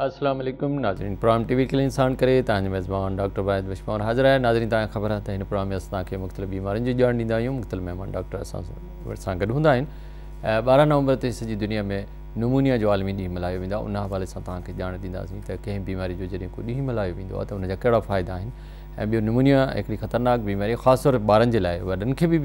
السلام عليڪم ناظرين پرائم ٽي وي ڪلين سان ڪري تان جي ميزبان ڊاڪٽر واحد وشمور حاضر آهي ناظرين تان خبر آهي ته هن پرائم اس تان کي مختلف بيمارين جي جاڻ ڏيندا آهيون مختلف مهمان ڊاڪٽر اسان سان گڏ هوندا آهن 12 نومبر تي سڄي دنيا ۾ نمونيا جو عالمي ڏينهن ملهايو ويندا ان حوالي سان تان کي جاڻ ڏيندا سين ته ڪنهن بيماري جو جڏهن ڪو ڏينهن ملهايو ويندو آهي ته ان جا ڪهڙا فائدا آهن ۽ ٻيو نمونيا هڪڙي خطرناڪ بيماري خاص طور ٻارن جي لاء وڏن کي به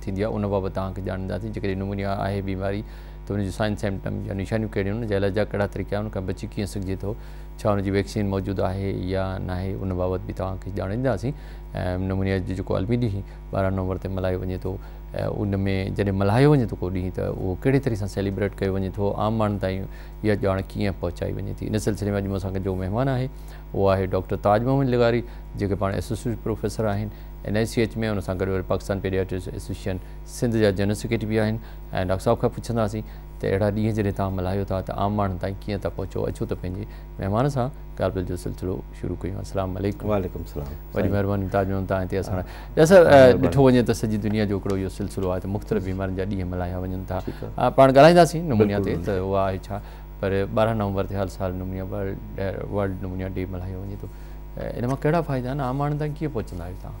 ٿيندي آهي ان بابت تان کي جاڻ ڏيندا سين جيڪڏهن نمونيا آهي بيماري ته ان جون سائن سمپٽم يا نشانيون ڪهڙيون آهن، ان جا علاج جا ڪهڙا طريقا آهن، ان کان بچي ڪيئن سگهجي ٿو، ڇا ان جي ويڪسين موجود آهي يا ناهي، ان بابت به توهان کي ڄاڻائينداسين. نمونيا جو جيڪو عالمي ڏينهن ٻارهن نومبر تي ملهايو وڃي ٿو، ان ۾ جڏهن ملهايو وڃي ٿو ڪو ڏينهن ته اهو ڪهڙي طرح سان سيليبريٽ ڪيو وڃي ٿو، عام ماڻهن تائين اها ڄاڻ ڪيئن پهچائي وڃي ٿي، ان سلسلي ۾ اڄ مون سان گڏ جو مهمان آهي اهو آهي ڊاڪٽر تاج محمد لغاري جيڪي پاڻ ايسوسيٽ پروفيسر آهن اين آء سي ايڇ ۾ ان سان گڏ وري پاڪستان پيڊياٽرڪس ايسوسيئشن سنڌ جا جنرل سيڪريٽري به آهن. ۽ ڊاڪٽر صاحب کان پڇنداسين ته اهڙا ڏينهن جڏهن توهان ملهايو ٿا ته عام ماڻهن تائين ڪيئن ٿا پهچو اچو ته پنهنجي مهمان سان ڳالهه ٻولهه جو سلسلو شروع ڪيون السلام عليڪم وعليڪم السلام وڏي مهرباني تاج محمد توهان هتي اسان ڊاڪٽر صاحب ڏٺو وڃي ته سڄي دنيا جو هڪڙو اهو سلسلو آهي ته مختلف بيمارين جا ڏينهن ملهايا وڃن ٿا پاڻ ڳالهائينداسين نمونيا تي ته اها آهي ڇا پر ٻارهن نومبر تي هر سال نمونيا ورلڊ نمونيا ڊي ملهايو وڃي ٿو ان مان ڪهڙا فائدا آهن عام ماڻهن تائين ڪيئن پهچندا آهيو توهان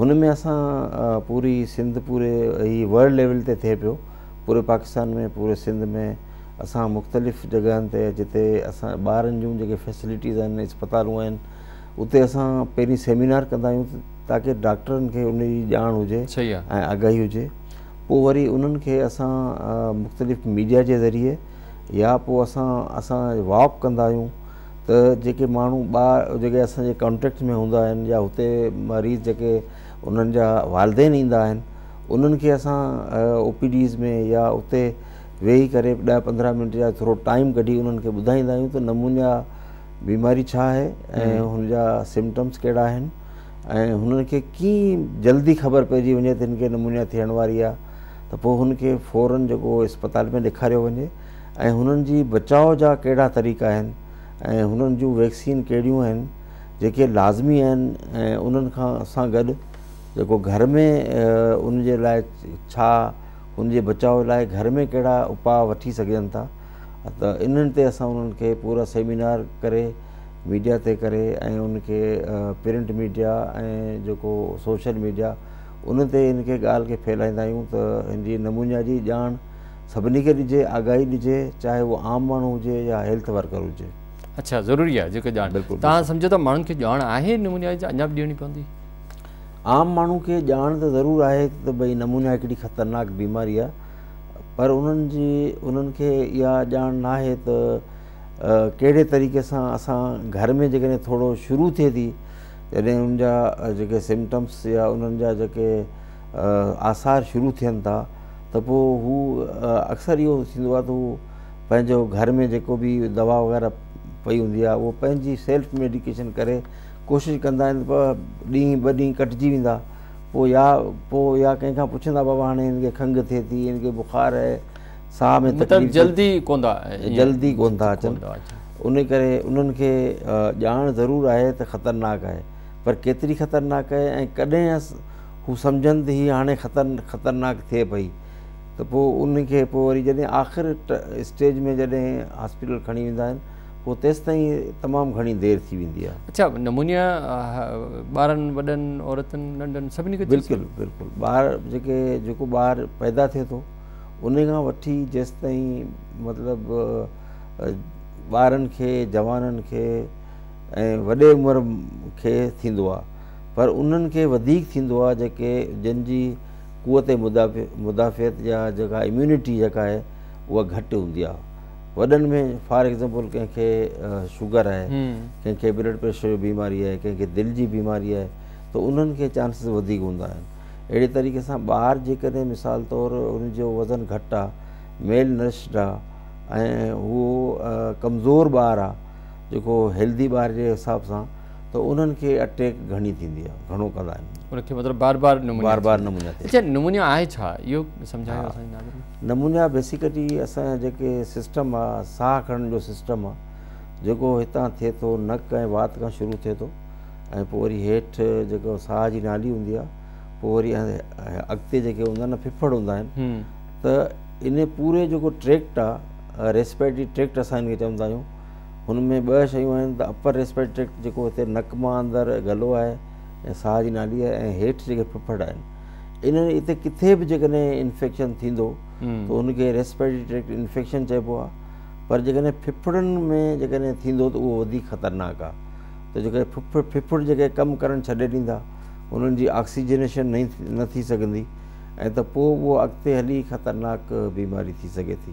هن ۾ اسان پوري سنڌ پوري هي ورلڊ ليول تي ٿئي پيو پوري پاڪستان ۾ پوري سنڌ ۾ اسان مختلف جڳهن تي جتي اسان ٻارن جون جيڪي فيسلٽيز آهن اسپتالون آهن اتي اسان پهرين سيمينار ڪندا آهيون تاڪي ڊاڪٽرن کي ان جي ڄاڻ هجي ۽ آگاهي هجي پوء وري انهن کي اسان مختلف ميڊيا جي ذريعي يا پوء اسان اسان واڪ ڪندا آهيون ته جيڪي ماڻهو ٻار جيڪي اسان جي ڪانٽيڪٽ ۾ هوندا آهن يا هتي مريض جيڪي انهن جا والدين ايندا آهن انهن کي اسان او پي ڊيز ۾ يا اتي ويهي ڪري ڏهه پندرهن منٽ يا ٿورو ٽائيم ڪڍي انهن کي ٻڌائيندا آهيون ته نمونيا بيماري ڇا آهي ۽ هن جا سمٽمس ڪهڙا آهن ۽ هنن کي ڪيئن جلدي خبر پئجي وڃي ته هن کي نمونيا ٿيڻ واري آهي ته پوء هن کي فورن جيڪو اسپتال ۾ ڏيکاريو وڃي ۽ هنن جي بچاء جا ڪهڙا طريقا آهن ۽ هنن جون ويڪسين ڪهڙيون آهن جيڪي لازمي آهن ۽ انهن کان سان گڏ جيڪو گهر ۾ ان جي لاء ڇا ان جي بچاء لاء گهر ۾ ڪهڙا اپاء وٺي سگهجن ٿا ته انهن تي اسان انهن کي پورا سيمينار ڪري ميڊيا تي ڪري ۽ ان کي پرنٽ ميڊيا ۽ جيڪو سوشل ميڊيا ان تي ان کي ڳالهه کي ڦهلائيندا آهيون ته هن جي نمونيا جي ڄاڻ سڀني کي ڏجي آگاهي ڏجي چاهي اهو عام ماڻهو هجي يا هيلٿ ورڪر هجي. اڇا ضروري آهي جيڪا ڄاڻ تهان سمجهو ٿا ماڻهن کي ڄاڻ آهي ان نمونيائي جي اڃا به ڏيڻي پوندي. عام ماڻهو کي ڄاڻ ته ضرور آهي ته ڀئي نمونيائي ڪيڏي خطرناڪ بيماري آهي پر انهن جي انهن کي اها ڄاڻ ناهي ته ڪهڙي طريقي سان اسان گهر ۾ جيڪڏهن ٿورو شروع ٿئي ٿي جڏهن انهن جا جيڪي سمٽمس يا انهن جا جيڪي آثار شروع ٿين ٿا ته پوء هو اڪثر اهو ٿيندو آهي ته هو پنهنجو گهر ۾ جيڪو به دوا وغيره پئي هوندي آهي اهو پنهنجي سيلف ميڊيڪيشن ڪري ڪوشش ڪندا آهن ته ڏينهن ٻه ڏينهن ڪٽجي ويندا پوء يا پوء يا ڪنهن کان پڇندا بابا هاڻي هن کي کنگهه ٿئي ٿي هن کي بخار آهي ساهه ۾ تڪليف جلدي ڪون ٿا جلدي ڪون ٿا اچن ان ڪري انهن کي ڄاڻ ضرور آهي ته خطرناڪ آهي پر ڪيتري خطرناڪ آهي ۽ ڪڏهن هو سمجهن ته هي هاڻي خطرناڪ ٿئي پئي ته پوء ان کي پوء وري جڏهن آخر اسٽيج ۾ جڏهن هاسپيٽل کڻي ويندا آهن پوء تيستائين تمام گهڻي دير ٿي ويندي آهي. اڇا نمونيا ٻارن وڏن عورتن ننڍن سڀني کي ٿي سگهي ٿو؟ بلڪل بلڪل ٻار جيڪي جيڪو ٻار پيدا ٿئي ٿو ان کان وٺي جيستائين مطلب ٻارن کي جوانن کي ۽ وڏي عمر کي ٿيندو آهي. پر انهن کي وڌيڪ ٿيندو آهي جيڪي جن جي قوت مدافعت يا جيڪا اميونٽي جيڪا آهي اها گهٽ هوندي آهي وڏن ۾ فار ايگزامپل ڪنهن کي شوگر آهي ڪنهن کي بلڊ پريشر جي بيماري آهي ڪنهن کي دل جي بيماري آهي ته انهن کي چانسز وڌيڪ هوندا آهن اهڙي طريقي سان ٻار جيڪڏهن مثال طور ان جو وزن گهٽ آهي ميل نرشڊ آهي ۽ هو ڪمزور ٻار آهي جيڪو هيلڌي ٻار جي حساب سان ته انهن کي اٽيڪ گهڻي ٿيندي آهي گهڻو ڪندا آهن ان کي مطلب بار بار نمونيا بار بار نمونيا ٿي اچا نمونيا آهي ڇا اهو سمجهايو اسان جي ناظرين نمونيا بيسيڪلي اسان جا جيڪي سسٽم آ ساهه کڻڻ جو سسٽم آ جيڪو هتان ٿئي ٿو نڪ ۽ وات کان شروع ٿئي ٿو ۽ پوء وري هيٺ جيڪو ساهه جي نالي هوندي آ پوء وري اڳتي جيڪي هوندا آهن ڦڦڙ هوندا آهن ته ان پوري جيڪو ٽريڪٽ آ ريسپيرٽري ٽريڪٽ اسان ان کي چوندا آهيون هن ۾ ٻه شيون آهن ته اپر ريسپيريٽري ٽريڪٽ جيڪو هتي نڪ مان اندر گلو آهي ۽ ساهه جي نالي آهي ۽ هيٺ جيڪي ڦڦڙ آهن انهن اتي ڪٿي به جيڪڏهن انفيڪشن ٿيندو ته ان کي ريسپيريٽري ٽريڪٽ انفيڪشن چئبو آهي پر جيڪڏهن ڦڦڙن ۾ جيڪڏهن ٿيندو ته اهو وڌيڪ خطرناڪ آهي ته جيڪي ڦڦڙ ڦڦڙ جيڪي ڪم ڪرڻ ڇڏي ڏيندا انهن جي آڪسيجنيشن نه ٿي سگهندي ۽ ته پوء اهو اڳتي هلي خطرناڪ بيماري ٿي سگهي ٿي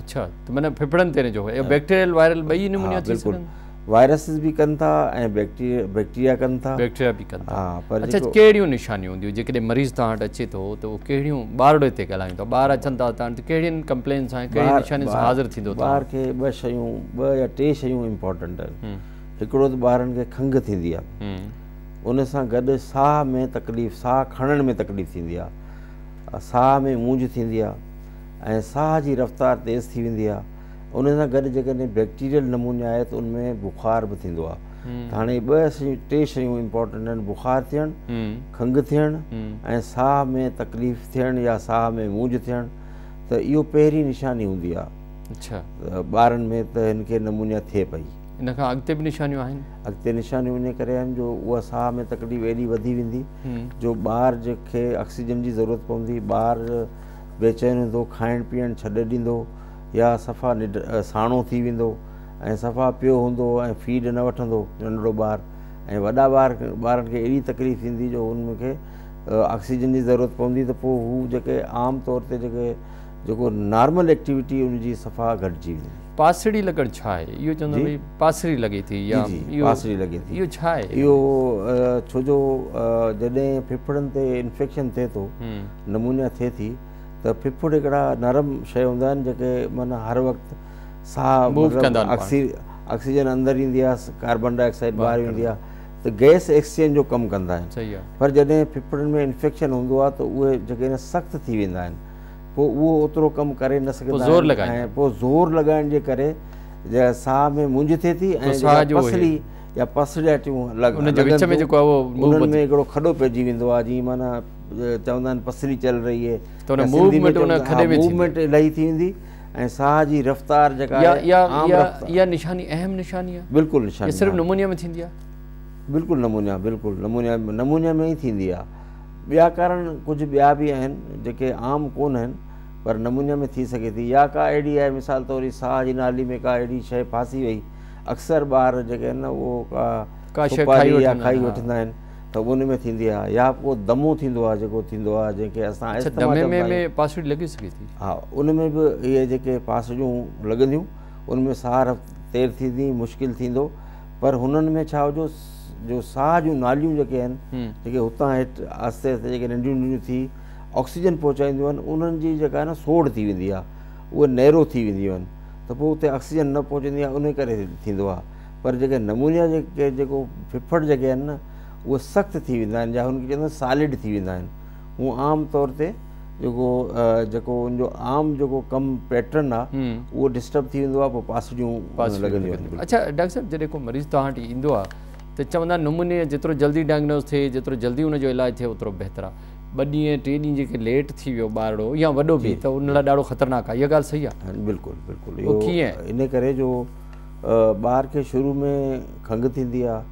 اڇا ته معنيٰ ڦڦڙن تي نجو اهو بيڪٽيريل وائرل ٻئي نمونيا ٿي سگهن ها بلڪل وائرسز به ڪن ٿا ۽ بيڪٽيريا ڪن ٿا بيڪٽيريا به ڪن ٿا اڇا ڪهڙيون نشانيون هونديون جيڪڏهن مريض توهان وٽ اچي ٿو ته اهو ڪهڙيون ٻارڙي تي ڳالهايون ٿا ٻار اچن ٿا توهان وٽ ڪهڙين ڪمپلين سان ڪهڙين نشانين سان حاضر ٿيندو توهان ٻار کي ٻه شيون ٻه يا ٽي شيون امپورٽنٽ آهن هڪڙو ته ٻارن کي کنگهه ٿيندي آهي ان سان گڏ ساهه ۾ تڪليف ساهه کڻڻ ۾ تڪليف ٿيندي آهي ساهه ۾ مونجهه ٿيندي آهي ۽ ساهه جي رفتار تيز ٿي ويندي آهي ان سان گڏ جيڪڏهن بيڪٽيريل نمونيا آهي ته ان ۾ بخار به ٿيندو آهي ته هاڻي ٻه شيون ٽي شيون امپورٽنٽ آهن بخار ٿيڻ کنگهه ٿيڻ ۽ ساهه ۾ تڪليف ٿيڻ يا ساهه ۾ مونجهه ٿيڻ ته اهو پهرين نشاني هوندي آهي ٻارن ۾ ته هن کي نمونيا ٿئي پئي ان کان اڳتي به نشانيون آهن اڳتي نشانيون ان ڪري آهن جو اها ساهه ۾ تڪليف ايڏي وڌي ويندي جو ٻار جنهن کي آڪسيجن جي ضرورت پوندي ٻار بيچين هوندو، کائڻ پيئڻ ڇڏي ڏيندو يا صفا نڍ ساڻو ٿي ويندو ۽ صفا پيو هوندو ۽ فيڊ نه وٺندو ننڍڙو ٻار ۽ وڏا ٻار ٻارن کي اهڙي تڪليف ٿيندي جو ان کي آڪسيجن جي ضرورت پوندي ته پوء هو جيڪي عام طور تي جيڪي جيڪو نارمل ايڪٽيوٽي ان جي صفا گهٽجي ويندي. پاسڙي لڳڻ ڇا آهي؟ اهو چوندو آهيان ڀئي پاسري لڳي ٿي يا اهو ڇا آهي؟ اهو ڇو جو جڏهن ڦڦڙن تي انفيڪشن ٿئي ٿو، نمونيا ٿئي ٿي ته ڦڦڙ هڪڙا نرم شيء هوندا آهن جيڪي معنيٰ هر وقت ساهه آڪسيجن اندر ايندي آهي ڪاربان ڊاء آڪسائيڊ ٻاهر ويندي آهي ته گئس ايڪسچينج جو ڪم ڪندا آهن پر جڏهن ڦڦڙن ۾ انفيڪشن هوندو آهي ته اهي جيڪي سخت ٿي ويندا آهن پوء اهو اوترو ڪم ڪري نه سگهندا آهن ۽ پوء زور لڳائڻ جي ڪري جيڪا ساهه ۾ مونجهه ٿئي ٿي ۽ جيڪا پسلي يا پسڙيٽيون لڳن ٿيون انهن ۾ هڪڙو کڏو پئجي ويندو آهي جيئن معنيٰ چوندا آهن پسلي چل رهي هي ته موومينٽ الائي ٿي ويندي ۽ ساهه جي رفتار جيڪا آهي عام رفتار اها نشاني اهم نشاني آهي بلڪل نشاني صرف نمونيا ۾ ٿيندي آهي بلڪل نمونيا بلڪل نمونيا نمونيا ۾ ئي ٿيندي آهي ٻيا ڪارڻ ڪجهه ٻيا به آهن جيڪي عام ڪو نه آهن پر نمونيا ۾ ٿي سگهي ٿي يا ڪا اهڙي آهي مثال طور هي ساهه جي نالي ۾ ڪا اهڙي شيء ڦاسي وئي اڪثر ٻار جيڪي آهن نه اهو ڪا ڪا شيء کائي وٺندا آهن کائي وٺندا آهن ته ان ۾ ٿيندي آهي يا ڪو دمو ٿيندو آهي جيڪو ٿيندو آهي جنهن کي اسان اچا دمي ۾ به پاسڙي لڳي سگهي ٿي ها ان ۾ به اهي جيڪي پاسڙيون لڳنديون ان ۾ ساهه تير ٿيندي مشڪل ٿيندو پر هنن ۾ ڇا هجو جو ساهه جون ناليون جيڪي آهن، جيڪي هتان هيٺ آهستي آهستي جيڪي ننڍيون ننڍيون ٿي آڪسيجن پهچائينديون آهن، انهن جي جيڪا آهي نه سوڙهه ٿي ويندي آهي، اهي نيرو ٿي وينديون آهن ته پوء اتي آڪسيجن نه پهچندي آهي انهي ڪري ٿيندو آهي. پر جيڪي نمونيا جيڪي جيڪو ڦڦڙ جيڪي آهن نه اهي سخت ٿي ويندا آهن يا هن کي چوندا آهن سالڊ ٿي ويندا آهن. هو عام طور تي جيڪو جيڪو ان جو عام جيڪو ڪم پيٽرن آ اهو ڊسٽرب ٿي ويندو آ پوء پاسڙيون پاسڙيون لڳنديون آهن لڳنديون. اڇا ڊاڪٽر صاحب جڏهن ڪو مريض توهان وٽ ايندو آ ته چوندا آهن نمونيا جيترو جلدي ڊائگنوز ٿئي جيترو جلدي ان جو علاج ٿئي اوترو بهتر آ ٻه ڏينهن ٽي ڏينهن جيڪي ليٽ ٿي ويو ٻارڙو يا وڏو به جي ته ان لاء ڏاڍو خطرناڪ آ اها ڳالهه صحيح آ بلڪل بلڪل اهو ڪيئن؟ ان ڪري جو ٻار کي شروع ۾ کنگهه ٿيندي آ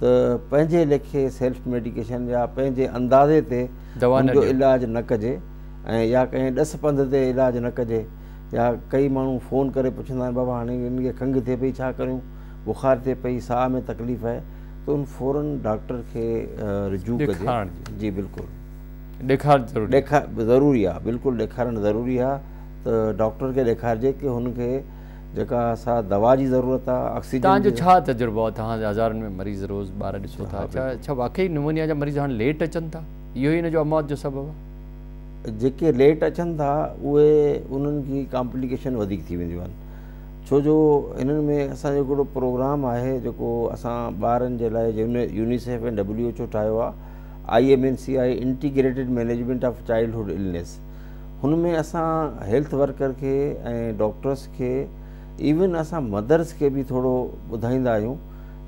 ته پنهنجي ليکي سيلف ميڊيڪيشن يا پنهنجي اندازي تي ان جو علاج نه ڪجي ۽ يا ڪنهن ڏس پنڌ تي علاج نه ڪجي يا ڪئي ماڻهو فون ڪري پڇندا آهن بابا هاڻي ان کي کنگهه ٿئي پئي ڇا ڪريون بخار ٿئي پئي ساهه ۾ تڪليف آهي ته ان فورن ڊاڪٽر کي رجوع ڪجي جي بلڪل ڏيکارڻ ضروري آهي بلڪل ڏيکارڻ ضروري آهي ته ڊاڪٽر کي ڏيکارجي ته هن کي جيڪا سا دوا جي ضرورت آ آڪسيجن جي تهان جو ڇا تجربو آ تهان جا هزارن ۾ مريض روز ٻار ڏسو ٿا ڇا واقعي نمونيا جا مريض هاڻ ليٽ اچن ٿا اهو ئي ان جو اموات جو سبب آ جيڪي ليٽ اچن ٿا اهي انهن جي ڪامپليڪيشن وڌيڪ ٿي وينديون آهن ڇو جو انهن ۾ اسان جو هڪڙو پروگرام آهي جيڪو اسان ٻارن جي لاء يونيسيف ۽ ڊبليو ايڇ او ٺاهيو آ آئي ايم اين سي آهي integrated management of childhood illness هن ۾ اسان هيلٿ ورڪر کي ۽ ڊاڪٽرس کي ايون اسان مدرس کي به ٿورو ٻڌائيندا آهيون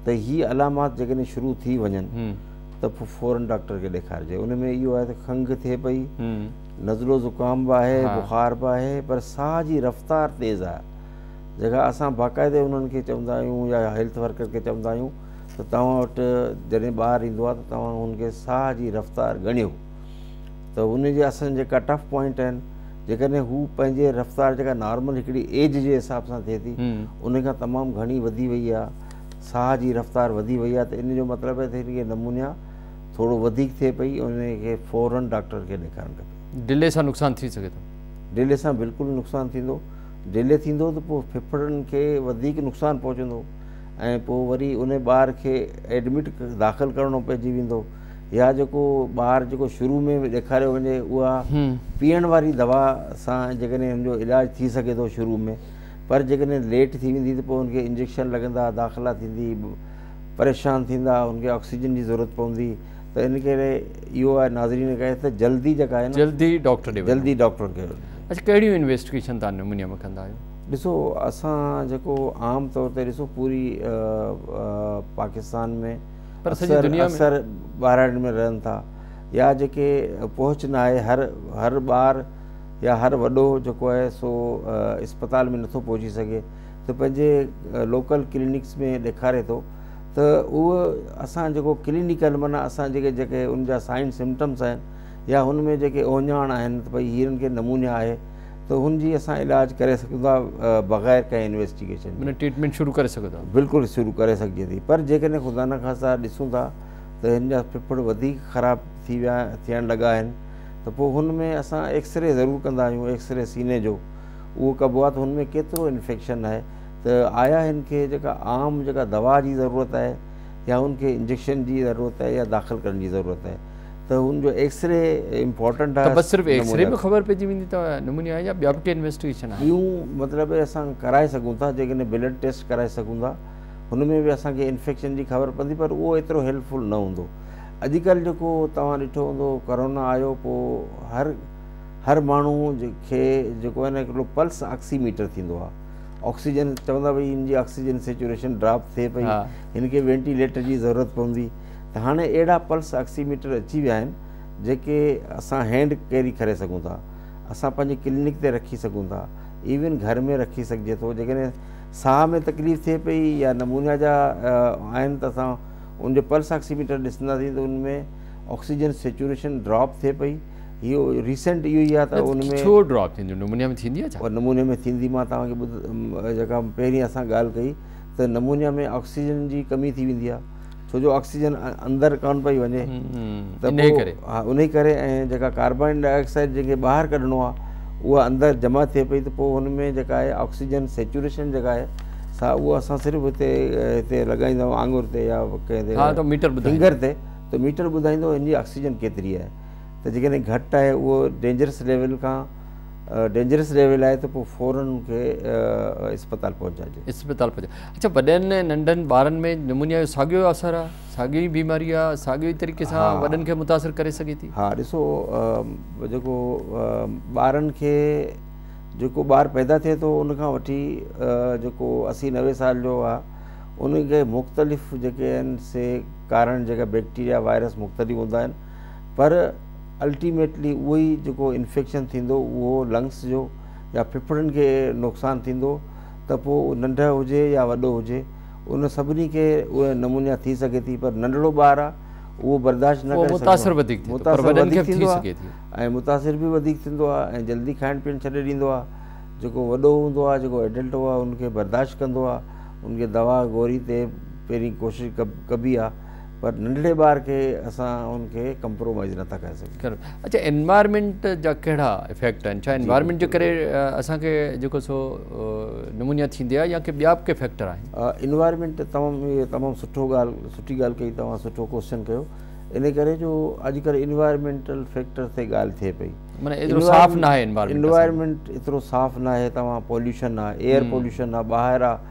ته هي علامات جيڪڏهن شروع ٿي وڃن ته پوء فورن ڊاڪٽر کي ڏيکارجي ان ۾ اهو آهي ته کنگهه ٿئي پئي نزلو زڪام به آهي بخار به آهي پر ساهه جي رفتار تيز آهي جيڪا اسان باقاعدي انهن کي چوندا آهيون يا هيلٿ ورڪر کي چوندا آهيون ته توهان وٽ جڏهن ٻار ايندو آهي ته توهان هن کي ساهه جي رفتار ڳڻيو ته ان جي اسان جي ڪٽ آف پوائنٽ آهن جيڪڏهن هو پنهنجي رفتار جيڪا نارمل هڪڙي ايج جي حساب سان ٿئي ٿي ان کان تمام گهڻي وڌي وئي آهي ساهه جي رفتار وڌي وئي آهي ته ان جو مطلب آهي ته هن کي نمونيا ٿورو وڌيڪ ٿئي پئي ان کي فورن ڊاڪٽر کي ڏيکارڻ کپي ڊلي سان نقصان ٿي سگهي ٿو ڊلي سان بلڪل نقصان ٿيندو ڊلي ٿيندو ته پوء ڦڦڙن کي وڌيڪ نقصان پهچندو ۽ پوء وري ان ٻار کي ايڊمٽ داخل ڪرڻو پئجي ويندو يا جيڪو ٻار جيڪو شروع ۾ به ڏيکاريو وڃي اها پيئڻ واري دوا سان جيڪڏهن هن جو علاج ٿي سگهي ٿو شروع ۾ پر جيڪڏهن ليٽ ٿي ويندي ته پوء هن کي انجيڪشن لڳندا داخلا ٿيندي پريشان ٿيندا هن کي آڪسيجن جي ضرورت پوندي ته ان ڪري اهو آهي ناظرين کي ته جلدي جيڪا آهي جلدي ڊاڪٽر ڏي جلدي ڊاڪٽر کي اچھا ڪهڙيون انويسٽيگيشن تان نموني ۾ ڪندا آهيو ڏسو اسان جيڪو عام طور تي ڏسو پوري پاڪستان ۾ اڪثر اڪثر ٻاراڻين ۾ رهن ٿا يا جيڪي پهچ نه آهي هر هر ٻار يا هر وڏو جيڪو آهي سو اسپتال ۾ نٿو پهچي سگهي ته پنهنجي لوڪل ڪلينڪس ۾ ڏيکاري ٿو ته اهو اسان جيڪو ڪلينڪل معنيٰ اسان جيڪي جيڪي ان جا سائن سمٽمس آهن يا هن ۾ جيڪي اوهڃاڻ آهن ته پئي هيرن کي نمونيا آهي ته هن جي اسان علاج ڪري سگهون ٿا بغير ڪنهن انويسٽيگيشن جي. معنيٰ ٽريٽمينٽ شروع ڪري سگهو ٿا. بلڪل شروع ڪري سگهجي ٿي پر جيڪڏهن خدا نخواسته ڏسون ٿا ته هن جا ڦڦڙ وڌيڪ خراب ٿي ويا ٿيڻ لڳا آهن ته پوء هن ۾ اسان ايڪسري ضرور ڪندا آهيون ايڪسري سيني جو اهو ڪبو آهي ته هن ۾ ڪيترو انفيڪشن آهي ته آيا هن کي جيڪا عام جيڪا دوا جي ضرورت آهي يا هن کي انجيڪشن جي ضرورت آهي يا داخل ڪرڻ جي ضرورت آهي ته ان جو ايڪس ري امپورٽنٽ آهي ته بس صرف ايڪس ري ۾ خبر پئجي ويندي ته نمونيا آهي يا ٻيا به ڪي انويسٽيگيشن آهن ٻيون مطلب اسان ڪرائي سگهون ٿا جيڪڏهن بلڊ ٽيسٽ ڪرائي سگهون ٿا هن ۾ به اسان کي انفيڪشن جي خبر پوندي پر اهو ايترو هيلپ فل نه هوندو اڄ ڪلهه جيڪو توهان ڏٺو هوندو ڪرونا آيو پو هر هر ماڻهو کي جيڪو آهي نه هڪڙو پلس آڪسي ميٽر ٿيندو آهي آڪسيجن چوندا ڀئي هن جي آڪسيجن سيچوريشن ڊراپ ٿئي پئي هن کي وينٽيليٽر جي ضرورت پوندي ته هاڻي اهڙا پلس آڪسي ميٽر اچي ويا آهن جيڪي اسان هينڊ ڪيري ڪري سگهون ٿا اسان پنهنجي ڪلينڪ تي رکي سگهون ٿا ايون گهر ۾ رکي سگهجي ٿو جيڪڏهن ساهه ۾ تڪليف ٿئي پئي يا نمونيا جا آهن ته اسان ان جو پلس آڪسي ميٽر ڏسنداسين ته ان ۾ آڪسيجن سيچوريشن ڊراپ ٿئي پئي اهو ريسنٽ اهو ئي آهي ته ان ۾ ڇو ڊراپ ٿيندو نمونيا ۾ ٿيندي آهي نمونيا ۾ ٿيندي مان توهان کي جيڪا پهرين اسان ڳالهه ڪئي ته نمونيا ۾ آڪسيجن جي ڪمي ٿي ويندي آهي ڇو جو آڪسيجن اندر ڪانه پئي وڃي ته انهي ڪري ها انهي ڪري ۽ جيڪا ڪاربان ڊاء آڪسائيڊ جيڪي ٻاهر ڪڍڻو آ اها اندر جمع ٿئي پئي ته پوء هن ۾ جيڪا آهي آڪسيجن سيچوريشن جيڪا آهي سا اها اسان صرف هتي هتي لڳائيندا آهيون آڱر تي يا ڪنهن تي ها ته ميٽر ٻڌائيندو فنگر تي ته ميٽر ٻڌائيندو هن جي آڪسيجن ڪيتري آهي ته جيڪڏهن گهٽ آهي اهو ڊينجرس ليول کان ڊينجرس ليول آهي ته پوء فورن ان کي اسپتال پهچائجي اسپتال پهچائجي اچھا وڏن ۽ ننڍن ٻارن ۾ نمونيا جو ساڳيو اثر آهي ساڳيو ئي بيماري آهي ساڳيو ئي طريقي سان وڏن کي متاثر ڪري سگھي ٿي ها ڏسو جيڪو ٻارن کي جيڪو ٻار پيدا ٿئي ٿو ان کان وٺي جيڪو اسي نوي سال جو آهي ان کي مختلف جيڪي آهن سي ڪارڻ جيڪا بيڪٽيريا وائرس مختلف هوندا آهن پر الٽيميٽلي اهو ئي جيڪو انفيڪشن ٿيندو اهو لنگس جو يا ڦڦڙن کي نقصان ٿيندو ته پوء اهو ننڍ هجي يا وڏو هجي ان سڀني کي اهي نمونيا ٿي سگهي ٿي پر ننڍڙو ٻار آهي اهو برداشت نه ڪري متاثر وڌيڪ ٿيندو پر وڏن کي به ٿي سگهي ٿي ۽ متاثر به وڌيڪ ٿيندو آهي ۽ جلدي کائڻ پيئڻ ڇڏي ڏيندو آهي جيڪو وڏو هوندو آهي جيڪو ايڊلٽ هو آهي ان کي برداشت ڪندو آهي ان کي دوا گوري تي پهرين ڪوشش ڪبي آهي پر ننڍڙي ٻار کي اسان ان کي ڪمپرومائز نه ٿا ڪري سگهون. اچا انوائرمينٽ جا ڪهڙا افيڪٽ آهن ڇا انوائرمينٽ جي ڪري اسان کي جيڪو سو نمونيا ٿيندي آهي يا ڪي ٻيا به ڪي فيڪٽر آهن. انوائرمينٽ تمام تمام سٺو ڳالهه سٺي ڳالهه ڪئي توهان سٺو ڪوسچن ڪيو ان ڪري جو اڄڪلهه انوائرمينٽل فيڪٽر تي ڳالهه ٿئي پئي معنيٰ ايترو صاف ناهي انوائرمينٽ ايترو صاف ناهي توهان پوليوشن آهي ايئر پوليوشن آهي ٻاهر آهي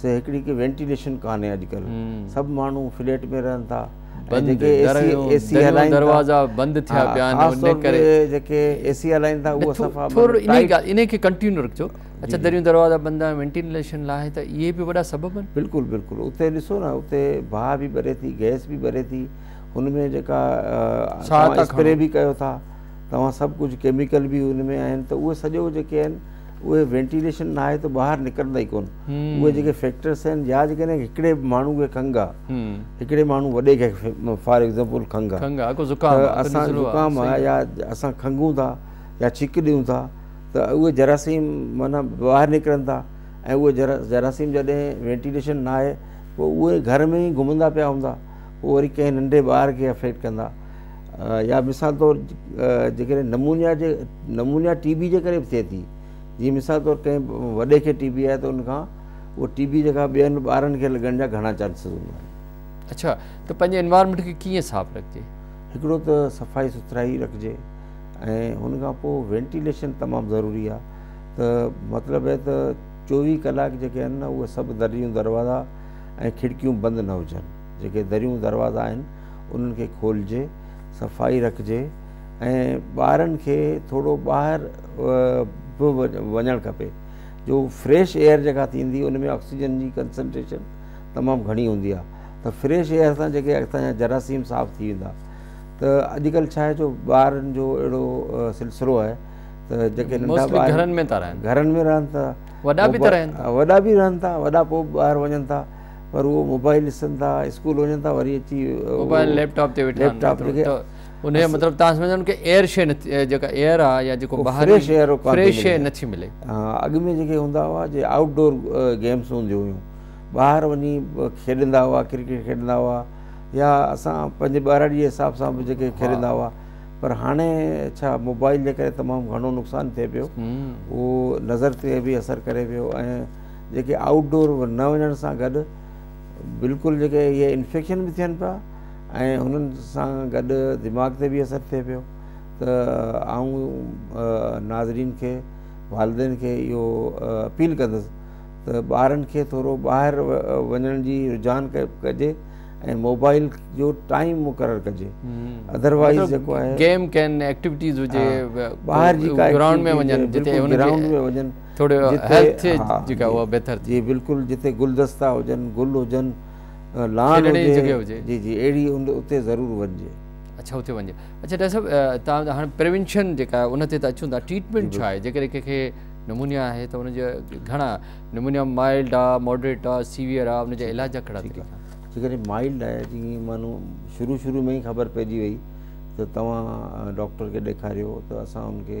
سي هڪڙي ڪي وينٽيليشن ڪانهي اڄڪلهه سڀ ماڻهو فليٽ ۾ رهن ٿا ۽ جيڪي اي سي اي سي هلائين ٿا دروازا بند ٿيا پيا آهن خاص طور تي جيڪي اي سي هلائين ٿا اهو صفا ٿورو انهي کي ڪنٽينيو رکجو اڇا دريون دروازا بند آهن وينٽيليشن لاهي ته اهي به وڏا سبب آهن بلڪل بلڪل اتي ڏسو نه اتي باهه به ٻري ٿي گئس به ٻري ٿي ان ۾ جيڪا اسپري به ڪيو ٿا توهان سڀ ڪجهه ڪيميڪل به ان ۾ آهن ته اهي سڄو جيڪي آهن اهي وينٽيليشن نه آهي ته ٻاهر نڪرندا ئي ڪون اهي جيڪي فيڪٽرس آهن يا جيڪڏهن ڪڏهن هڪڙي ماڻهو کي کنگ آ هڪڙي ماڻهو وڏي کي فار ايگزامپل کنگ آ اسان زڪام آ يا اسان کنگون ٿا يا ڇڪ ڏيون ٿا ته اهي جراثيم معنيٰ ٻاهر نڪرن ٿا ۽ اهي جرا جراثيم جڏهن وينٽيليشن نه آهي پوء اهي گهر ۾ ئي گهمندا پيا هوندا پوء وري ڪنهن ننڍي ٻار کي افيڪٽ ڪندا يا مثال طور جيڪڏهن نمونيا جي نمونيا ٽي بي جي ڪري به ٿئي ٿي جيئن مثال طور ڪنهن وڏي کي ٽي بي آهي ته ان کان اهو ٽي بي جيڪا ٻين ٻارن کي لڳڻ جا گهڻا چانسز هوندا آهن اچھا ته پنهنجي انوائرمنٽ کي ڪيئن صاف رکجي هڪڙو ته صفائي سٿرائي رکجي ۽ ان کان پوء وينٽيليشن تمام ضروري آهي ته مطلب هي ته چوويهه ڪلاڪ جيڪي آهن نه اهي سڀ دريون دروازا ۽ کڙڪيون بند نه هجن جيڪي دريون دروازا آهن انهن کي کولجي صفائي رکجي ۽ ٻارن کي ٿورو ٻاهر به وڃڻ کپي جو فريش ايئر جيڪا ٿيندي ان ۾ آڪسيجن جي ڪنسنٽريشن تمام گهڻي هوندي آهي ته فريش ايئر سان جيڪي اڳتان جا جراثيم صاف ٿي ويندا ته اڄڪلهه ڇا آهي جو ٻارن جو اهڙو سلسلو آهي ته جيڪي ننڍا ٻار گهرن ۾ رهن ٿا وڏا به رهن ٿا وڏا پوء ٻاهر وڃن ٿا پر اهو موبائل ڏسن ٿا اسڪول وڃن ٿا وري اچي موبائل ليپ ٽاپ تي ويٺا ليپ ٽاپ تي ان جو مطلب تان سمجھن ڪي ايئر شي نه جيڪا ايئر آ يا جيڪو باهر فريش ايئر ڪا فريش شي نه ٿي ملي اڳ ۾ جيڪي هوندا هوا جي آئوٽ ڊور گيمز هونديون هيون باهر وڃي کيڏندا هوا ڪرڪيٽ کيڏندا هوا يا اسان پنهنجي ٻاراڙي جي حساب سان به جيڪي کيڏندا هوا پر هاڻي ڇا موبائل جي ڪري تمام گهڻو نقصان ٿئي پيو اهو نظر تي به اثر ڪري پيو ۽ جيڪي آئوٽ ڊور نه وڃڻ سان گڏ بلڪل جيڪي اهي انفيڪشن به ٿين پيا ۽ انهن سان گڏ دماغ تي به اثر ٿئي پيو ته آئون ناظرين کي والدين کي اهو اپيل ڪندس ته ٻارن کي ٿورو ٻاهر وڃڻ جي رجحان ڪجي ۽ موبائل جو ٽائيم مقرر ڪجي ادروائز مطلب جيڪو آهي گيم ڪين ايڪٽيويٽيز هجي ٻاهر جي گرائونڊ ۾ وڃن جتي گرائونڊ ۾ وڃن ٿوري هيلٿ ٿئي جيڪا اها بهتر ٿئي جي بلڪل جتي گلدستا هجن گل هجن لان هجي جي جي اهڙي اتي ضرور وڃجي اڇا اتي وڃجي اڇا ڊاڪٽر صاحب تان هاڻ پريونشن جيڪا آهي ان تي ته اچون ٿا ٽريٽمينٽ ڇا آهي جيڪڏهن ڪنهن کي نمونيا آهي ته ان جا گهڻا نمونيا مائلڊ آ ماڊريٽ آ سيويئر آ ان جا علاج جا ڪهڙا طريقا جيڪڏهن مائلڊ آهي جي مانو شروع شروع ۾ ئي خبر پئجي وئي ته توهان ڊاڪٽر کي ڏيکاريو ته اسان ان کي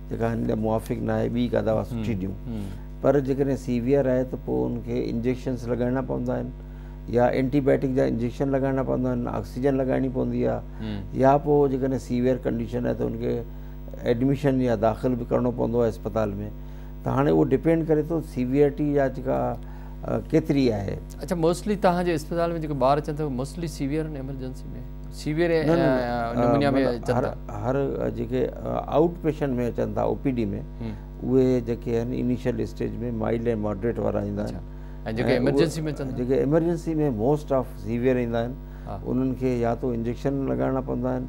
جيڪا هن لاء موافق ناهي ٻي ڪا دوا سٺي ڏيون پر جيڪڏهن سيويئر آهي ته پوء ان کي انجيڪشنس لڳائڻا پوندا آهن يا اينٽي بائيوٽڪ جا انجيڪشن لڳائڻا پوندا آهن آڪسيجن لڳائڻي پوندي آهي يا پوء جيڪڏهن سيويئر ڪنڊيشن آهي ته ان کي ايڊميشن يا داخل به ڪرڻو پوندو آهي اسپتال ۾ ته هاڻي اهو ڊپينڊ ڪري ٿو سيويئرٽي جا جيڪا ڪيتري آهي اچا موسٽلي توهان جي اسپتال ۾ جيڪي ٻار اچن ٿا موسٽلي سيويئر آهن ايمرجنسي ۾ سيويئر نمونيا ۾ اچن ٿا هر جيڪي آئوٽ پيشنٽ ۾ اچن ٿا او پي ڊي ۾ اهي جيڪي آهن انيشل اسٽيج ۾ مائلڊ ۽ ماڊريٽ وارا ايندا آهن ۽ جيڪي ايمرجنسي ۾ اچن جيڪي ايمرجنسي ۾ موسٽ آف سيويئر ايندا آهن انهن کي يا تو انجيڪشن لڳائڻا پوندا آهن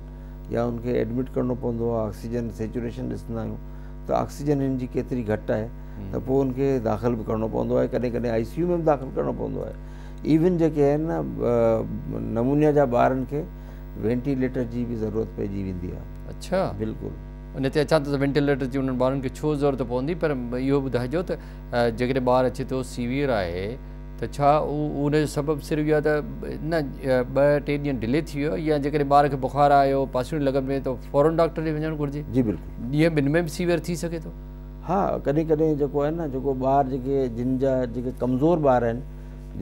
يا ان کي ايڊمٽ ڪرڻو پوندو آهي آڪسيجن سيچوريشن ڏسندا آهيون ته آڪسيجن هن جي ڪيتري گهٽ آهي ته پوء ان کي داخل به ڪرڻو پوندو آهي ڪڏهن ڪڏهن آء سي يو ۾ به داخل ڪرڻو پوندو آهي ايون جيڪي آهن نمونيا جا ٻارن کي وينٽي ليٽر جي به ضرورت پئجي ويندي آهي اڇا بلڪل. ان تي اچان ٿو ته وينٽي ليٽر جي انهن ٻارن کي ڇو ضرورت پوندي پر اهو ٻڌائجو ته جيڪڏهن ٻار اچي ٿو سيويئر آهي ته ڇا ان جو سبب صرف اهو آهي ته نه ٻه ٽي ڏينهن ڊلي ٿي ويو يا جيڪڏهن ٻار کي بخار آيو پاسيون لڳن پيون ته فورن ڊاڪٽر ڏي وڃڻ گهرجي جي بلڪل ڏينهن ٻن ۾ به سيويئر ٿي سگهي ٿو. ها ڪڏهن ڪڏهن جيڪو آهي نه جيڪو ٻار جيڪي جن جا جيڪي ڪمزور ٻار آهن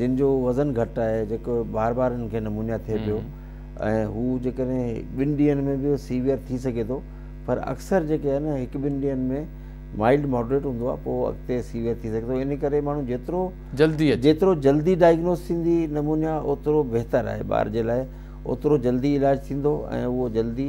جن جو وزن گهٽ آهي جيڪو بار بار انهن کي نمونيا ٿئي پيو ۽ هو جيڪڏهن ٻن ڏينهن ۾ به سيويئر ٿي سگهي ٿو پر اڪثر جيڪي آهي نه هڪ ٻن ڏينهن ۾ مائلڊ ماڊريٽ هوندو آهي پوء اڳتي سيويئر ٿي سگهي ٿو ان ڪري ماڻهو جيترو جلدي جيترو جلدي ڊائگنوز ٿيندي نمونيا اوترو بهتر آهي ٻار جي لاء اوترو جلدي علاج ٿيندو ۽ اهو جلدي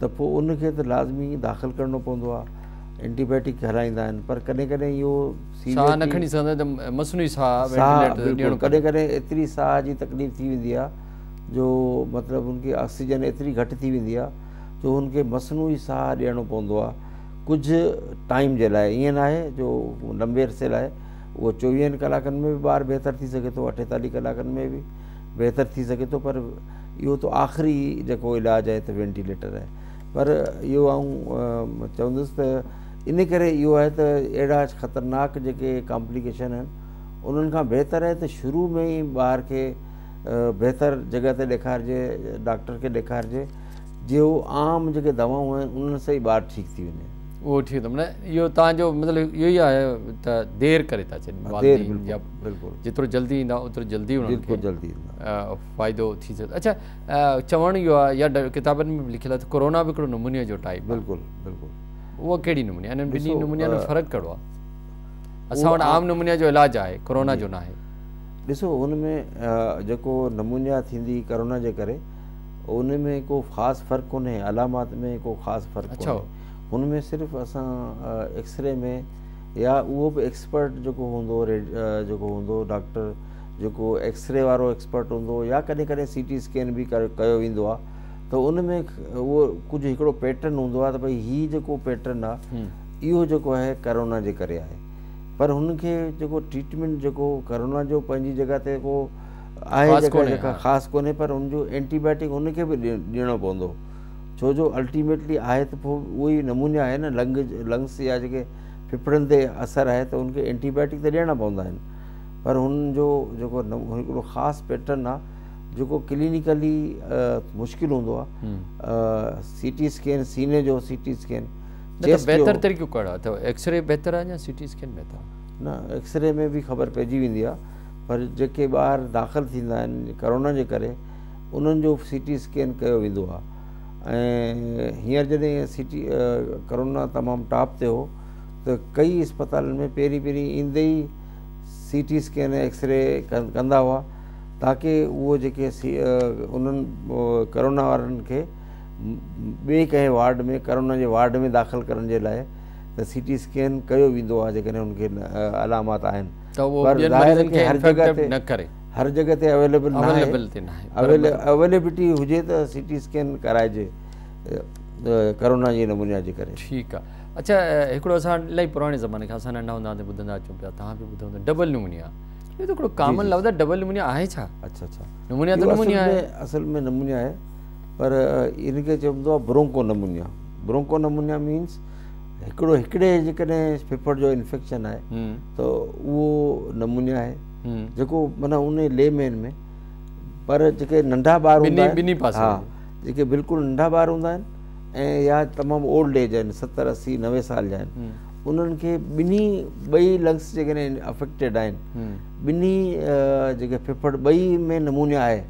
ته پوء ان کي ته لازمي داخل ڪرڻو پوندو آهي اينٽي بياٽڪ هلائيندا آهن پر ڪڏهن ڪڏهن اهو ساهه نه کڻي سگهندو آهي ته مصنوعي ساهه وينٽيليٽر ڏيڻو ڪڏهن ڪڏهن ايتري ساهه جي تڪليف ٿي ويندي آهي جو مطلب ان کي آڪسيجن ايتري گهٽ ٿي ويندي آهي جو ان کي مصنوعي ساهه ڏيڻو پوندو آهي ڪجهه ٽائيم جي لاء ائين نه آهي جو لمبي عرصي لاء اهو چوويهن ڪلاڪن ۾ به ٻار بهتر ٿي سگهي ٿو اٺيتاليهه ڪلاڪن ۾ به بهتر ٿي سگهي ٿو پر اهو ته آخري جيڪو علاج آهي ته وينٽيليٽر آهي پر اهو آئون چوندس ته ان ڪري اهو آهي ته اهڙا خطرناڪ جيڪي ڪامپليڪيشن آهن انهن کان بهتر آهي ته شروع ۾ ئي ٻار کي بهتر جڳہ تي ڏيکارجي ڊاڪٽر کي ڏيکارجي جي هو عام جيڪي دوائون آهن انهن سان ئي ٻار ٺيڪ ٿي وڃي اهو ٺيڪ آهي اهو توهان جو مطلب اهو ئي آهي ته دير ڪري ٿا ڇڏين والدين يا جيترو جلدي ايندا اوترو جلدي انهن کي فائدو ٿي سگهي اڇا چوڻ اهو آهي يا ڪتابن ۾ به لکيل آهي ته ڪورونا به هڪڙو نمونيا جو ٽائيپ بلڪل بلڪل اهو ڪهڙي نموني انهن ٻنهي نمونيا جو فرق ڪهڙو آهي اسان وٽ عام نمونيا جو علاج آهي ڪورونا جو ناهي ڏسو ان ۾ جيڪو نمونيا ٿيندي ڪورونا جي ڪري ان ۾ ڪو خاص فرق ڪونهي علامات ۾ ڪو خاص فرق ڪونهي هن ۾ صرف اسان ايڪسري ۾ يا اهو به ايڪسپرٽ جيڪو هوندو جيڪو هوندو ڊاڪٽر جيڪو ايڪسري وارو ايڪسپرٽ هوندو يا ڪڏهن ڪڏهن سي ٽي اسڪين به ڪيو ويندو آ ته ان ۾ اهو ڪجهه هڪڙو پيٽرن هوندو آ ته ڀئي هي جيڪو پيٽرن آ اهو جيڪو آهي ڪرونا جي ڪري آهي پر هن کي جيڪو ٽريٽمينٽ جيڪو ڪرونا جو پنهنجي جگهه تي ڪو آهي جيڪا خاص ڪونهي پر ان جو اينٽي بائيوٽڪ ان کي به ڏيڻو پوندو ڇو جو الٽيميٽلي آهي ته پوء اهو ئي نمونيا آهي نه لنگ لنگس جا جيڪي ڦڦڙن تي اثر آهي ته ان کي اينٽي بائيوٽڪ ته ڏيڻا پوندا آهن پر هن جو جيڪو هڪڙو خاص پيٽرن آهي جيڪو ڪلينيڪلي مشڪل هوندو آهي سي ٽي اسڪين سيني جو سي ٽي اسڪين بهتر طريقو ڪهڙو اٿو ايڪس ري بهتر آهي يا سي ٽي اسڪين بهتر آهي نه ايڪس ري ۾ به خبر پئجي ويندي آهي پر جيڪي ٻاهر داخل ٿيندا آهن ڪرونا جي ڪري انهن جو سي ٽي اسڪين ڪيو ويندو آهي ۽ هينئر جڏهن سي ٽي ڪرونا تمام ٽاپ تي هو ته ڪئي اسپتالن ۾ پهرين پهرين ايندي ئي C T scan ۽ X ray ڪندا هئا تاڪي اهو جيڪي انهن ڪرونا وارن کي ٻئي ڪنهن وارڊ ۾ ڪرونا جي وارڊ ۾ داخل ڪرڻ جي لاء ته سي ٽي اسڪين ڪيو ويندو آهي جيڪڏهن ان کي علامات آهن هر جڳهه تي اويليبل ناهي اويليبلٽي هجي ته سي ٽي اسڪين ڪرائجي ڪرونا جي نمونيا جي ڪري ٺيڪ آ اچھا هڪڙو اسان الائي پراڻي زماني کان اسان ننڍا هوندا هوندا ٻڌندا اچون پيا توهان به ٻڌو هوندو ڊبل نمونيا اهو ته هڪڙو ڪامن لفظ آ ڊبل نمونيا آهي ڇا اچھا اچھا نمونيا ته نمونيا آهي اصل ۾ نمونيا آهي پر ان کي چوندو آ bronchopneumonia bronchopneumonia means هڪڙو هڪڙي جيڪڏهن ڦڦڙ جو انفيڪشن آهي ته اهو نمونيا آهي جيڪو معنيٰ ان لي مين ۾ پر جيڪي ننڍا ٻار هوندا آهن ٻنهي پاسن ها جيڪي بلڪل ننڍا ٻار هوندا آهن ۽ يا تمام اولڊ ايج آهن ستر اسي نوي سال جا آهن انهن کي ٻنهي ٻئي لنگس جيڪڏهن افيڪٽيڊ آهن ٻنهي جيڪي ڦڦڙ ٻئي ۾ نمونيا آهي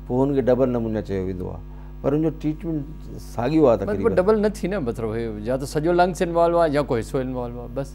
پوء هن کي ڊبل نمونيا چيو ويندو آهي پر ان جو ٽريٽمنٽ ساڳيو آهي تقريبا ڊبل نه ٿي نه مطلب يا ته سڄو لنگس انوالو آهي يا ڪو حصو انوالو آهي بس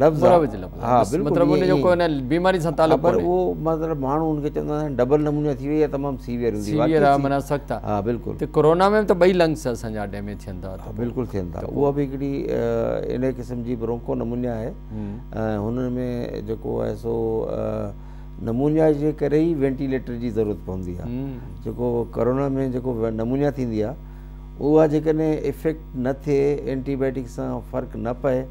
لفظ مروج لفظ ها بلڪل مطلب ان جو ڪو نه بيماري سان تعلق پر هو مطلب ماڻهو ان کي چوندا آهن ڊبل نمونيا ٿي وئي يا تمام سيويئر هوندي سيويئر واقعي آ منا سخت آ ها بلڪل ته ڪورونا ۾ ته ٻئي لنگس اسان جا ڊيميج ٿين ٿا ها بلڪل ٿين ٿا اها به هڪڙي انهي قسم جي برونڪو نمونيا آهي ۽ هن ۾ جيڪو آهي سو نمونيا جي ڪري ئي وينٽيليٽر جي ضرورت پوندي آ جيڪو ڪورونا ۾ جيڪو نمونيا ٿيندي آ اها جيڪڏهن افيڪٽ نه ٿئي اينٽي بائيٽڪ سان فرق نه پئي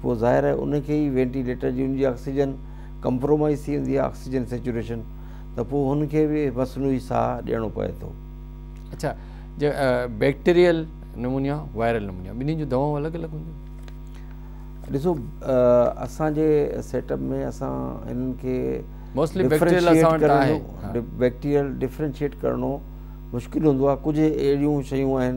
پوء ظاهر آهي ان کي ئي وينٽي ليٽر جي ان جي آڪسيجن ڪمپرومائيز ٿي ويندي آهي آڪسيجن سيچوريشن ته پوء هن کي به مصنوعي ساهه ڏيڻو پوي ٿو. اڇا جي بيڪٽيريل نمونيا وائرل نمونيا ٻنهي جون دوائون الڳ الڳ هونديون؟ ڏسو اسان جي سيٽ اپ ۾ اسان انهن کي موسٽلي بيڪٽيريل اسان وٽ آهي بيڪٽيريل ڊفرينشيٽ ڪرڻو مشڪل هوندو آهي ڪجهه اهڙيون شيون آهن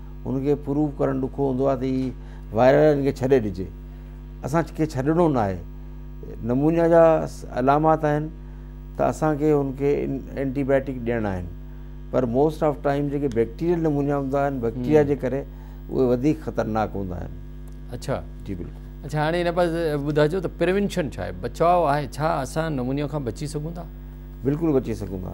هن کي پروف ڪرڻ ڏکو هوندو آهي ته هي وائرل آهي هن کي ڇڏي ڏجي اسان کي ڇڏڻو نه آهي نمونيا جا علامات آهن ته اسان کي هن کي اينٽي بائيوٽڪ ڏيڻا آهن پر موسٽ آف ٽائم جيڪي بيڪٽيريل نمونيا هوندا آهن بيڪٽيريا جي ڪري اهي وڌيڪ خطرناڪ هوندا آهن اچھا جي بلڪل اچھا هاڻي هن پاس ٻڌائجو ته پريونشن ڇا آهي بچاء آهي ڇا اسان نمونيا کان بچي سگھون ٿا بلڪل بچي سگھون ٿا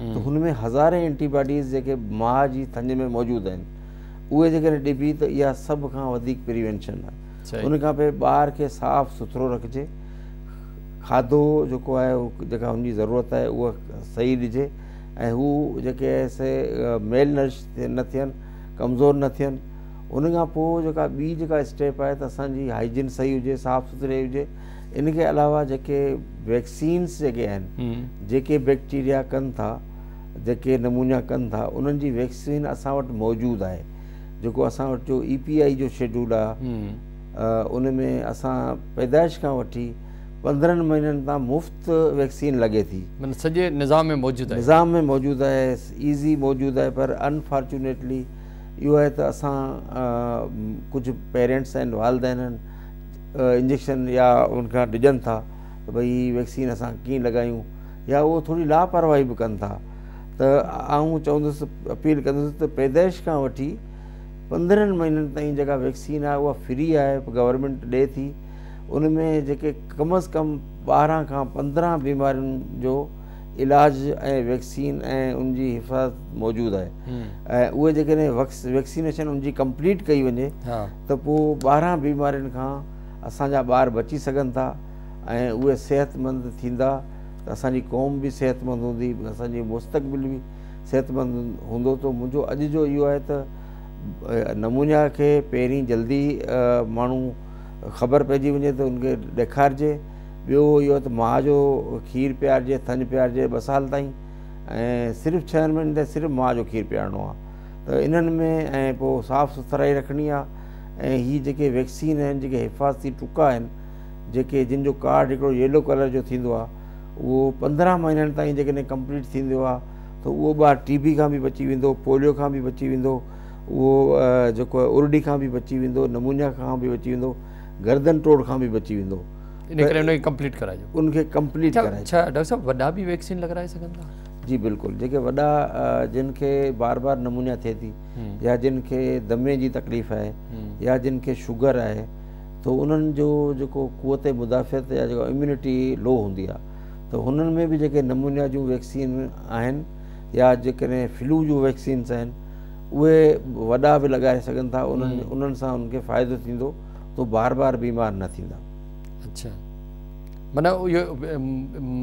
ته هن ۾ هزارين اينٽي باڊيز جيڪي ماء جي ٿڃ ۾ موجود آهن اهي جيڪڏهن ڏبي ته اها سڀ کان وڌيڪ پريوينشن آهي ان کان پوء ٻار کي صاف سٿرو رکجي کاڌو جيڪو آهي جيڪا هن جي ضرورت آهي اها صحيح ڏجي ۽ هو جيڪي آهي سي ميل نرش نه ٿين ڪمزور نه ٿين ان کان پوء جيڪا ٻي جيڪا اسٽيپ آهي ته اسانجي هائجين صحيح هجي صاف سٿري هجي ان کي علاوه جيڪي ويڪسينس جيڪي آهن جيڪي بيڪٽيريا ڪن ٿا جيڪي نمونيا ڪن ٿا انهن جي ويڪسين اسان وٽ موجود آهي جيڪو اسان وٽ جو اي پي آئي جو شيڊول آهي ان ۾ اسان پيدائش کان وٺي پندرهن مهينن تان مفت ويڪسين لڳي ٿي سڄي نظام ۾ موجود آهي نظام ۾ موجود آهي ايزي موجود آهي پر انفارچونيٽلي اهو آهي ته اسان ڪجهه پيرنٽس آهن والدين آهن انجيڪشن يا ان کان ڊڄن ٿا ته ڀئي هي ويڪسين اسان ڪيئن لڳايون يا اهو ٿوري لاپرواهي به ڪن ٿا ته آئون چوندس اپيل ڪندس ته پيدائش کان وٺي پندرهن مهينن تائين جيڪا ويڪسين آهي اها فري آهي گورنمنٽ ڏئي ٿي ان ۾ جيڪي ڪم از ڪم ٻارهن کان پندرهن بيمارين جو علاج ۽ ويڪسين ۽ ان جي حفاظت موجود آهي ۽ اهي جيڪڏهن ويڪسينيشن ان جي ڪمپليٽ ڪئي وڃي ته پوء ٻارهن بيمارين کان اسان جا ٻار بچي سگهن ٿا ۽ اهي صحتمند ٿيندا ته اسان جي قوم به صحتمند هوندي ۽ اسان جو مستقبل به صحتمند هوندو ته منهنجو اڄ جو اهو آهي ته نمونيا کي پهرين جلدي ماڻهو خبر پئجي وڃي ته ان کي ڏيکارجي ٻيو اهو ته ماء جو کير پيارجي ٿڃ پيارجي ٻه سال تائين ۽ صرف ڇهن مهينن تائين صرف ماء جو کير پيارڻو آهي ته انهن ۾ ۽ پوء صاف سٿرائي رکڻي آهي ۽ هي جيڪي ويڪسين آهن جيڪي حفاظتي ٽڪا آهن جيڪي جن جو ڪارڊ هڪڙو ييلو ڪلر جو ٿيندو آهي اهو پندرهن مهينن تائين جيڪڏهن ڪمپليٽ ٿيندو آهي ته اهو ٻار ٽي بي کان به بچي ويندو پوليو کان به بچي ويندو اهو جيڪو آهي ارڙي کان به بچي ويندو نمونيا کان به بچي ويندو گردن ٽوڙ کان به بچي ويندو ان ڪري ان کي ڪمپليٽ ڪرائجو ان کي ڪمپليٽ ڪرائجو ڇا ڊاڪٽر صاحب وڏا به ويڪسين لڳرائي سگهن ٿا جي بلڪل جيڪي وڏا جن کي بار بار نمونيا ٿئي ٿي يا جن کي دمي جي تڪليف آهي يا جن کي شوگر آهي تو انهن جو جيڪو قوت مدافعت يا جيڪو اميونٽي لو هوندي آهي ته هنن ۾ به جيڪي نمونيا جون ويڪسين آهن يا جيڪڏهن فلو جون ويڪسينس آهن اهي وڏا به لڳائي سگهن ٿا انهن انهن سان انهن کي فائدو ٿيندو تو بار بار بيمار نه ٿيندا اچھا معنيٰ اهو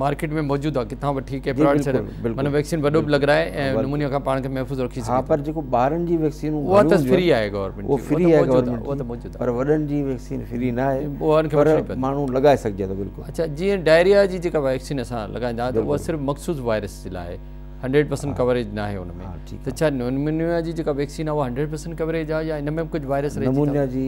مارڪيٽ ۾ موجود آهي ڪٿان وٺي ڪنهن پراوڊ سينٽر معنيٰ ويڪسين وڏو به لڳرائي ۽ نمونيا کان پاڻ کي محفوظ رکي سگهي ٿو. ها پر جيڪو ٻارن جي ويڪسين اها ته فري آهي گورنمينٽ جي اها فري آهي گورنمينٽ جي موجود آهي پر وڏن جي ويڪسين فري نه آهي اها ان کي وٺڻي پوندي پر ماڻهو لڳائي سگهجي ٿو بلڪل. اڇا جيئن ڊائريا جي جيڪا ويڪسين اسان لڳائيندا آهيون ته اها صرف مخصوص وائرس جي لاء آهي هنڊريڊ پرسنٽ ڪوريج ناهي ان ۾ ته ڇا نمونيا جي جيڪا ويڪسين آهي اها هنڊريڊ پرسنٽ ڪوريج آهي يا ان ۾ به ڪجهه وائرس رهجي ٿا نمونيا جي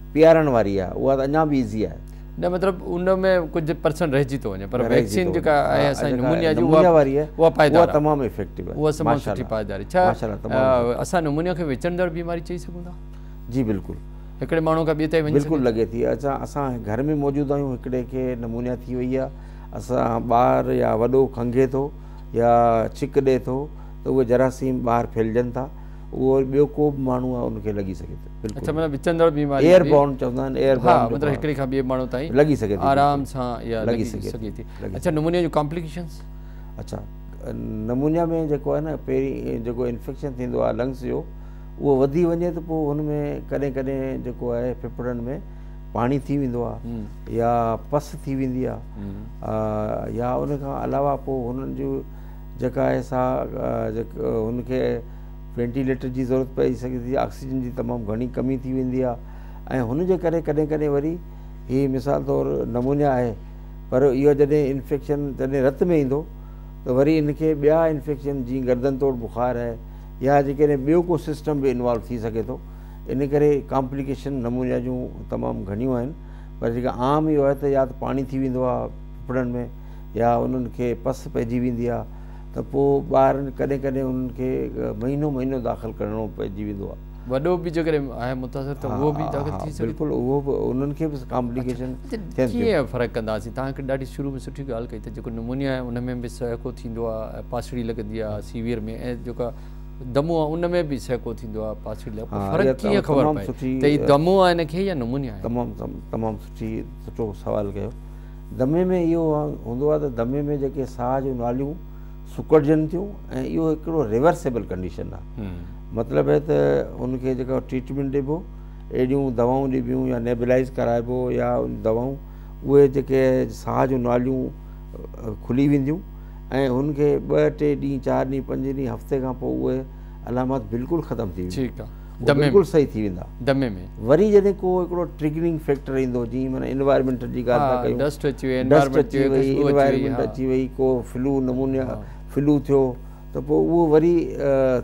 پيارڻ واري آهي اها ته اڃا به ايزي آهي. نه مطلب ان ۾ ڪجهه پرسنٽ رهجي ٿو وڃي پر ويڪسين جيڪا آهي اسان جي نمونيا جي اها اها پائيدار اها تمام افيڪٽو آهي اها تمام سٺي پائيدار آهي ڇا اسان نمونيا کي وچڙندڙ بيماري چئي سگهون ٿا جي بلڪل هڪڙي ماڻهو کان ٻئي تائين وڃي بلڪل لڳي ٿي اسان اسان گهر ۾ موجود آهيون هڪڙي کي نمونيا ٿي وئي آهي اسان ٻار يا وڏو کنگهي ٿو يا ڇڪ ڏئي ٿو ته اهي جراثيم ٻاهر ڦهلجن ٿا اهو ٻيو ڪو به ماڻهو آهي ان کي لڳي سگهي ٿو ايئر بورن چوندا آهن ايئر بورن هڪڙي کان ٻئي ماڻهو تائين لڳي سگهي ٿي آرام سان يا لڳي سگهي ٿي اڇا نمونيا جون ڪامپليڪيشنز اڇا نمونيا ۾ جيڪو آهي نه پهرين جيڪو انفيڪشن ٿيندو آهي لنگس جو اهو وڌي وڃي ته پوء هن ۾ ڪڏهن ڪڏهن جيڪو آهي ڦڦڙن ۾ پاڻي ٿي ويندو آهي يا پس ٿي ويندي آهي يا ان کان علاوه پوء هنن جو جيڪا آهي سا هن کي وينٽيليٽر جي ضرورت پئي سگهي ٿي، آڪسيجن جي تمام گهڻي ڪمي ٿي ويندي آهي ۽ هن جي ڪري ڪڏهن ڪڏهن وري هي مثال طور نمونيا آهي پر اهو جڏهن انفيڪشن جڏهن رت ۾ ايندو ته وري ان کي ٻيا انفيڪشن جيئن گردن توڙ بخار آهي يا جيڪڏهن ٻيو ڪو سسٽم به انوالو ٿي سگهي ٿو ان ڪري ڪامپليڪيشن نمونيا جون تمام گهڻيون آهن پر جيڪا عام اهو آهي ته يا ته پاڻي ٿي ويندو آهي ڦڦڙن ۾ يا انهن کي پس پئجي ويندي آهي ته پوء ٻار ڪڏهن ڪڏهن انهن کي مهينو مهينو داخل ڪرڻو پئجي ويندو آهي. وڏو به جيڪڏهن آهي متاثر ته اهو به داخل ٿي سگهي ٿو. بلڪل اهو به انهن کي به ڪامپليڪيشن ٿين ٿيون. ڪيئن فرق ڪنداسين؟ توهان هڪ ڏاڍي شروع ۾ سٺي ڳالهه ڪئي ته جيڪو نمونيا آهي ان ۾ به سهڪو ٿيندو آهي ۽ پاسڙي لڳندي آهي سيويئر ۾ ۽ جيڪا دمو آهي ان ۾ به سهڪو ٿيندو آهي پاسڙي لڳ پوء فرق ڪيئن خبر پئي ته هي دمو آهي هن کي يا نمونيا آهي. تمام تمام سٺي سٺو سوال ڪيو. دمي ۾ اهو هوندو آهي ته دمي ۾ جيڪي ساهه جون ناليون سڪڙجن ٿيون ۽ اهو هڪڙو ريورسيبل ڪنڊيشن آهي مطلب هي ته ان کي جيڪا ٽريٽمينٽ ڏبو اهڙيون دوائون ڏبيون يا نيبلائز ڪرائبو يا دوائون اهي جيڪي ساهه جون ناليون کلي وينديون ۽ هن کي ٻه ٽي ڏينهن چار ڏينهن پنج ڏينهن هفتي کان پوء اهي علامات بلڪل ختم ٿي وينديون دمي ۾ بلڪل صحيح ٿي ويندا دمي ۾ وري جڏهن ڪو هڪڙو ٽريگرنگ فيڪٽر ايندو جي معنيٰ انوائرمينٽ جي ڳالهه ٿا ڪيون ڊسٽ اچي وئي ڊسٽ اچي وئي انوائرمينٽ اچي وئي ڪو فلو نمونيا فلو ٿيو ته پوء اهو وري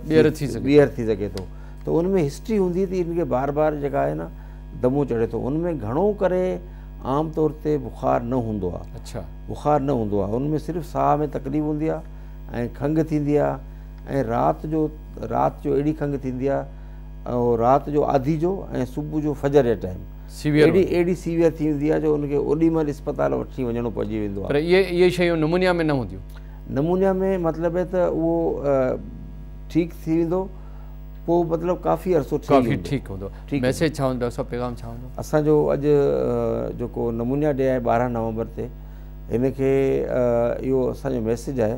ٻيهر ٿي سگهي ٻيهر ٿي سگهي ٿو ته ان ۾ هسٽري هوندي ته ان کي بار بار جيڪا آهي نه دمو چڙهي ٿو ان ۾ گهڻو ڪري عام طور تي بخار نه هوندو آهي اڇا بخار نه هوندو آهي ان ۾ صرف ساهه ۾ تڪليف هوندي آهي ۽ کنگهه ٿيندي آهي ۽ رات جو رات جو اهڙي کنگهه ٿيندي آهي اهو رات جو آڌي جو ۽ صبح جو فجر جي ٽائيم اهڙي اهڙي سيويئر ٿي ويندي آهي جو ان کي اوڏي مهل اسپتال وٺي وڃڻو پئجي ويندو آهي پر اهي اهي شيون نمونيا ۾ نه هونديون نمونيا ۾ مطلب ته اهو ٺيڪ ٿي ويندو پوء مطلب ڪافي عرصو ٺيڪ ٺيڪ هوندو ميسج ڇا هوندو ڊاڪٽر صاحب پيغام ڇا هوندو اسان جو اڄ جيڪو نمونيا ڏي آهي ٻارهن نومبر تي ان کي اهو اسان جو ميسج آهي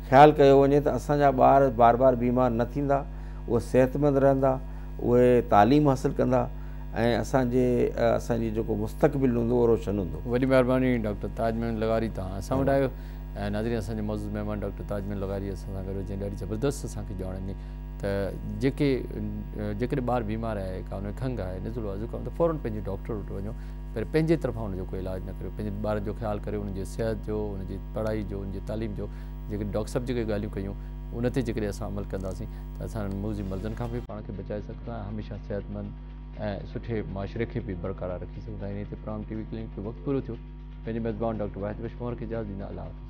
خيال ڪيو وڃي ته اسان جا ٻار بار بار بيمار نه ٿيندا، اهي صحتمند رهندا، اهي تعليم حاصل ڪندا ۽ اسان جي اسان جي جيڪو مستقبل هوندو اهو روشن هوندو. وڏي مهرباني ڊاڪٽر تاج محمد لغاري توهان اسان وٽ آيو ۽ ناظرين اسان جي معزز مهمان ڊاڪٽر تاج محمد لغاري اسان سان گڏ هو جنهن ڏاڍي زبردست اسان کي ڄاڻ ڏني ته جيڪي جيڪڏهن ٻار بيمار آهي ڪا ان کي کنگهه آهي نزلو آهي زڪام ته فورن پنهنجي ڊاڪٽر وٽ وڃو پر پنهنجي طرفان ان جو ڪو علاج نه ڪريو پنهنجي ٻارن جو خيال ڪريو ان جي صحت جو ان جي پڙهائي جو ان جي تعليم جو جيڪي ڊاڪٽر صاحب جيڪي ڳالهيون ڪيون ان تي جيڪڏهن اسان عمل ڪنداسين ته اسان انهن موذي مرضن کان به پاڻ کي بچائي سگهندا ۽ هميشه صحت مند ۽ سٺي معاشري کي به برقرار رکي سگهندا انهي تي پروگرام ٽي وي ڪلينڪ جو وقت پورو ٿيو پنهنجي ميزبان ڊاڪٽر واحد بخش مهر کي اجازت ڏيندا الله حافظ